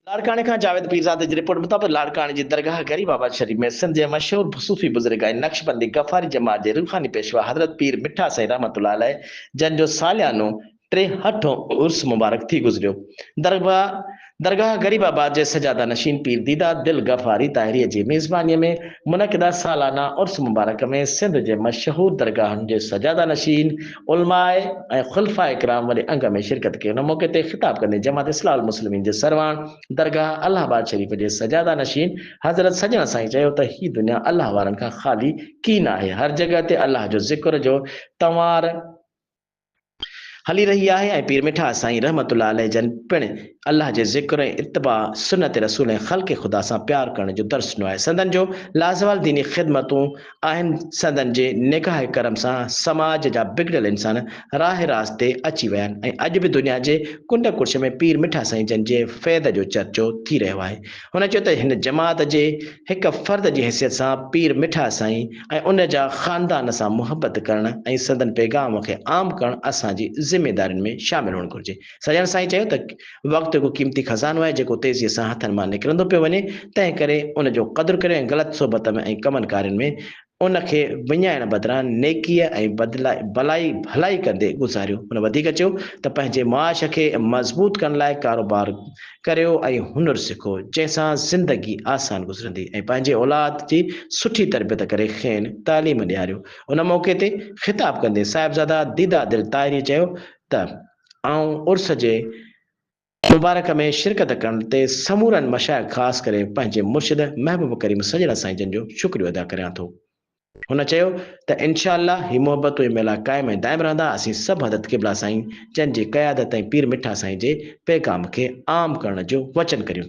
لاڙڪاڻي کان جاويد پيرزادي جي رپورٽ مطابق لاڙڪاڻي جي درگاهه غريب آباد شريف ۾ سنڌ جي مشهور صوفي بزرگ ۽ نقشبندي غفاري جماعت جي روحاني پيشوا حضرت پير مٺا سائين رحمة الله عليه جن جو ساليانو ٽيهٺون عرس مبارڪ ٿي گذريو درگاهه غريب آباد جي سجاده نشين پير ديده دل غفاري طاهري جي ميزباني ۾ منعقده سالانه عرس مبارڪ ۾ سنڌ جي مشهور درگاهن جي سجاده نشين علماء ۽ خلفاء ڪرام وڏي انگ ۾ شرڪت ڪئي. ان موقعي تي خطاب ڪندي جماعت اصلاح المسلمين جي سرواڻ درگاهه الله آباد شريف جي سجاده نشين حضرت سڄڻ سائين چيو ته هي دنيا الله وارن کان خالي ڪي نه آهي هر جڳهه تي الله جو ذڪر جو تنوار هلي رهي آهي ۽ پير مٺا سائين رحمت الله عليه جن پڻ الله جي ذڪر ۽ اتباع سنت رسول ۽ خلق خدا سان پيار ڪرڻ جو درس ڏنو آهي سندن جو لازوال ديني خدمتون آهن سندن جي نگاهه ڪرم سان سماج جا بگڙيل انسان راه راست تي اچي ويا آهن ۽ اڄ به دنيا جي ڪنڊ ڪڙڇ ۾ پير مٺا سائين جن جي فيض جو چرچو ٿي رهيو آهي هن چيو ته هن جماعت جي هڪ فرد جي حيثيت سان پير مٺا سائين ۽ ان جا خاندان سان محبت ڪرڻ ۽ سندن پيغام کي عام ڪرڻ اسان جي ذميدارين ۾ شامل هئڻ گهرجي سڄڻ سائين چيو ته وقت هڪ قيمتي خزانو آهي جيڪو تيزيء سان هٿن مان نڪرندو پيو وڃي تنهن ڪري ان جو قدر ڪريو ۽ غلط صحبت ۾ ۽ ڪمن ڪارين ۾ ان کي وڃائڻ بدران نيڪيء ۽ ڀلائي ڀلائي ڪندي گذاريو. هن وڌيڪ چيو ته پنهنجي معاش کي مضبوط ڪرڻ لاء ڪاروبار ڪريو ۽ هنر سکو جنهن سان زندگي آسان گذرندي ۽ پنهنجي اولاد جي سٺي تربيت ڪري کين تعليم ڏياريو. ان موقعي تي خطاب ڪندي صاحبزاده ديدا دل طاهريء چيو ته. آئون عرس جي مبارڪ ۾ شرڪت ڪرڻ تي سمورن مشائخ خاص ڪري پنهنجي مرشد محبوب ڪريم سڄڻا سائين جن جو شڪريو ادا ڪريان ٿو. هن چيو ته انشاء الله هي محبتون ۽ ميلا قائم ۽ دائم رهندا اسين سڀ حضرت قبلا سائين جن جي قيادت ۽ پير مٺا سائين جي پيغام کي عام ڪرڻ جو وچن ڪريون ٿا.